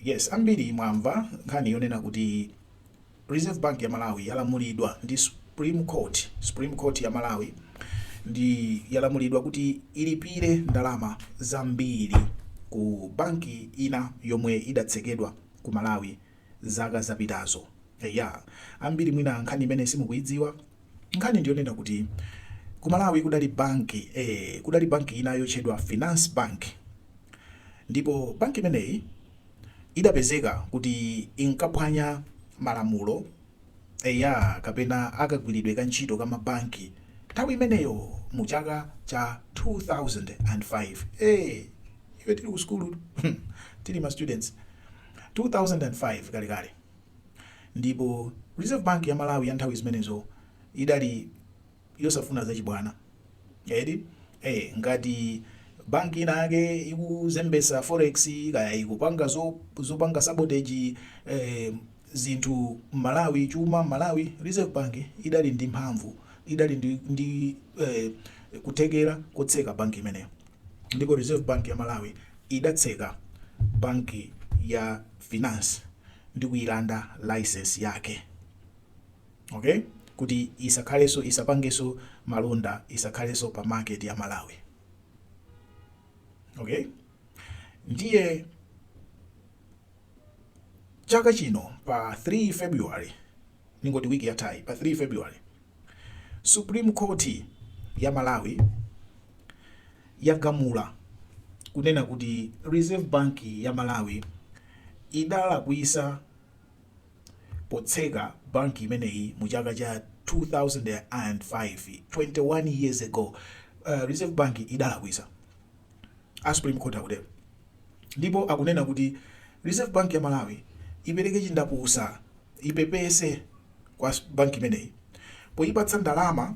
Yes, ambiri mwamva nkhani yonena kuti Reserve Bank ya Malawi yalamulidwa ndi Supreme Court, Supreme Court ya Malawi ndi yalamulidwa kuti ilipire ndalama zambiri ku banki ina yomwe idatsekedwa ku Malawi zaka zapitazo. Eya, ambiri mwina nkhani imeneyi simukuidziwa. Nkhani ndiyonena kuti ku Malawi kudali banki ee, kudali banki ina yotchedwa Finance Bank ndipo banki imeneyi idapezeka kuti inkaphwanya malamulo eya, kapena akagwiridwe ka ntchito ka mabanki nthawi imeneyo mu chaka cha 2005. Ee, ife tili ku sukulu tili ma students. 2005 kalekale ndipo Reserve Bank ya Malawi ya nthawi zimenezo idali yosafuna zachibwana eti eh, ngati banki inake ikuzembesa forex kaya ikupanga zopanga zo sabotage eh, zinthu m'Malawi chuma m'Malawi Reserve Bank idali ndi mphamvu idali ndi, ndi eh, kuthekera kotseka banki imeneyo ndipo Reserve Bank ya Malawi idatseka banki ya Finance ndi kuilanda license yake okay kuti isakhaleso isapangeso malonda isakhaleso pa market ya Malawi okay ndiye chaka chino pa 3 February ningoti wiki yathayi pa 3 February Supreme Court ya Malawi yagamula kunena kuti Reserve Bank ya Malawi idalakwisa potseka banki imeneyi mu chaka cha 2005 21 years ago uh, Reserve Bank idalakwisa a Supreme Court akutero Ndipo akunena kuti Reserve Bank ya Malawi ipereke chindapusa, ipepese kwa banki imeneyi poyipatsa ndalama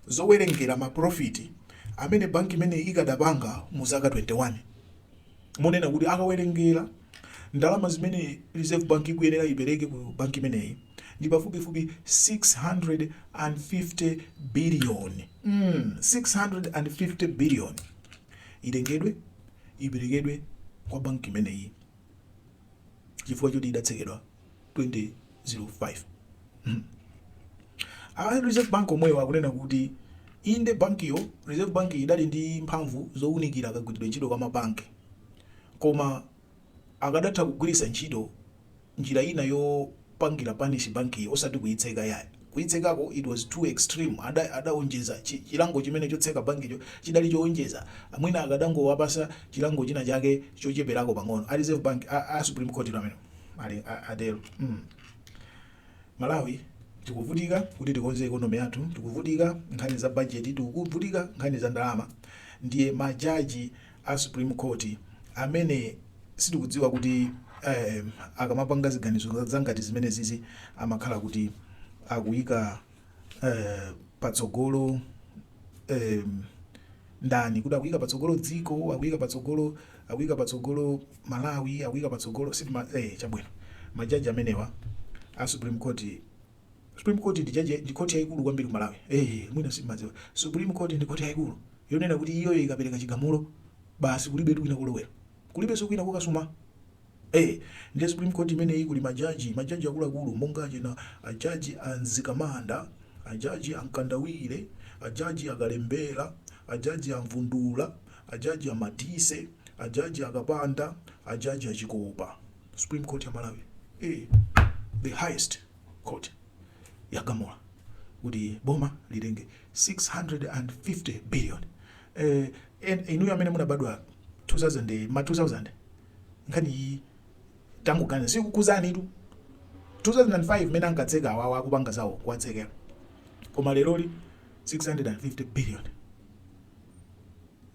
zowerengera ma profit amene banki imeneyi ikadapanga mu zaka 21. Monena kuti akawerengera ndalama zimene Reserve Bank ikuyenera ipereke ku banki imeneyi ndi pafupifupi 650 billion, mm 650 billion itengedwe. iperekedwe kwa banki imeneyi chifukwa choti idatsekedwa 2005 a reserve bank omwewo akunena kuti inde bankiyo reserve bank idali ndi mphamvu zowunikira kagwiridwe ntchito kwa mabanki koma Akadatha kugwiritsa ntchito njira ina yopangira punish bankiyi osati kuitseka yayi. Kuitsekako it was too extreme ada adaonjeza chilango chimene chotseka bankicho chidali choonjeza mwina akadangowapasa chilango china chake chocheperako pang'ono a reserve bank a a supreme courtilo amenewo ali atero mm Malawi tikuvutika kuti tikonze economy yathu tikuvutika nkhani za budget tikuvutika nkhani za ndalama ndiye ma judge a supreme court amene sitikudziwa kuti em akamapanga ziganizo zangati zimenezizi amakhala kuti akuyika eh, patsogolo em ndani kuti akuyika patsogolo dziko akuyika patsogolo akuyika patsogolo malawi akuyika patsogolo si eh chabwino majaji amenewa a supreme court Supreme court ndi judge ndi court yaikulu kwambiri ku Malawi eeh mwina simmadziwa supreme court ndi court yaikulu yonena kuti iyoyo ikapereka chigamulo basi kulibetu kwina kolowera kulibenso kwina kokasuma eeh ndiye supreme court imeneyi kuli ma judge ma judge akuluakulu monga achina a judge a Mzikamanda a judge a Mkandawire a judge a Kalembera a judge a Mvundula a judge a Madise a judge a Kapanda a judge a Chikopa supreme court ya malawi eh, the highest court yagamula kuti boma litenge 650 billion eh, en- inuyo amene munabadwa 2000 ma 2000 nkhaniyi tangoganizani sikukhudzani tu 2005 mene ankatseka awawa akupanga zawo kuwatsekera koma leroli 650 billion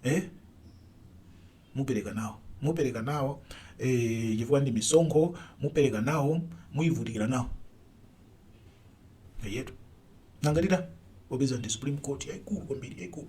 eh Mupereka nawo. Mupereka nawo, e, chifukwa ndi misonkho. Mupereka nawo, muivutikira nawo. Eyetu. Nanga tita? Popeza ndi Supreme Court yaikulu kwambiri, yaikulu.